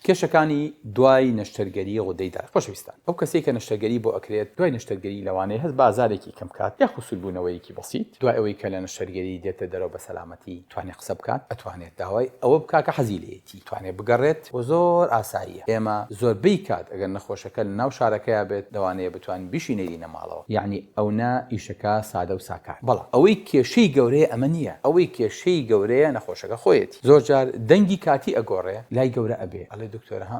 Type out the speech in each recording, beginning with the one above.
کێشەکانی دوای نەشتەرگەری غودەی دەرەق خۆشەویستان ئەو کەسەی کە نەشتەرگەری بۆ ئەکرێت دوای نەشتەرگەری لەوانەیە هەست بە ئازارێکی کەم بکات یاخو سوربوونەوەیەکی بەسیت دوای ئەوەی کە لە نەشتەرگەری دێتە دەرەوە بە سەلامەتی توانێت قسە بکات ئەتوانێت داوای ئەوە بکات کە حەزی لێیەتی توانێت بگەڕێت وە زۆر ئاساییە ئێمە زۆربەی کات ئەگەر نەخۆشەکە لە ناو شارەکەیا بێت لەوانەیە بتوانین بیشینەی بگەڕێنە ماڵەوە یەعنی ئەونە ئیشەکە سادەو ساکار بەڵام ئەوەی کێشەی گەورەیە ئەمە نیە ئەوەی کێشەی گەورەیە نەخۆشەکە خۆیەتی زۆر جار دەنگی کاتی ئەگۆڕێ لای گەورە ئەبێ ئەڵێ دکتۆر ها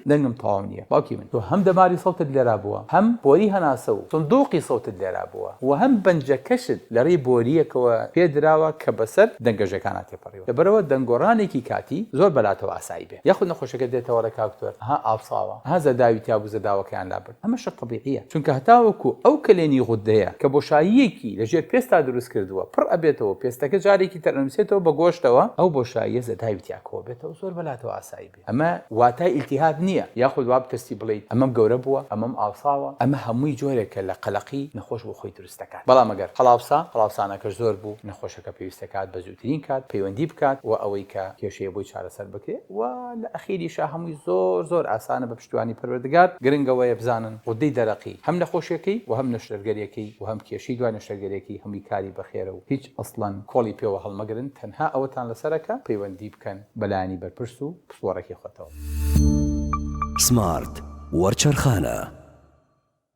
دەنگم تەواو نیە باوکی من تۆ هەم دەماری سەوتت لێرابووە هەم بۆری هەناسە و سندوقی سەوتت لێرابووە و هەم بەنجەکەشت لەڕێی بۆریەکەوە پێ دراوە کە بەسەر دەنگە ژەکانا تێپەڕیوە لەبەرئەوە دەنگ گۆڕانێکی کاتی زۆر بەلاتەوە ئاسایی بێ یاخود نەخۆشەکە دێتەوە ئەڵێ کاک دکتۆر ها ئاوساوە ها زەداوی تیابوو زەداوەکەیان لابرد ئەمەشە تەبیعیە چونکە هەتاوەکو ئەو کەلێنی غوددەیە کە بۆشاییەکی لە ژێر پێستتا دروست کردووە پڕ ئەبێتەوەو پێستەکە جارێکی تر ئەنوسێتەوە بە گۆشتەوە ئەو بۆشاییە زەتاوی تیا کۆ بێتەوە زۆر بەلاتەوە ئاسایی بێ ئەمە واتای ئیلتیهاب نیە یاخود وابترسی بڵێیت ئەمەم گەورە بووە ئەمەم ئاوساوە ئەمە هەمووی جۆرێکە لە قەلەقی نەخۆش بۆ خۆی پێویستەکان بەڵام ئەگەر قەڵاوسا قەڵاوسانەکەش زۆر بوو نەخۆشەکە پێویستەکات بە زووترین کات پەیوەندی بکات و ئەوەی کە کێشەیە بۆی چارەسەر بکرێ و لە ئەخیریشا هەمووی زۆر زۆر ئاسانە بە پشتیوانی پەروەردگار گرنگ ئەوەیە بزانن غودەی دەرەقی هەم نەخۆشیەکەی و هەم نەشتەرگەریەکەی و هەم کێشەی دوای نەشتەرگەریەکەی هەمووی کاری بەخێرە و هیچ ئەسڵەن کۆڵی پێوە هەڵمەگرن تەنها ئەوەتان لەسەرە کە پەیوەندی بکەن بە لایەنی بەرپرس و پسپۆڕەکەی خۆتەوە. سمارت وەرچەرخانە.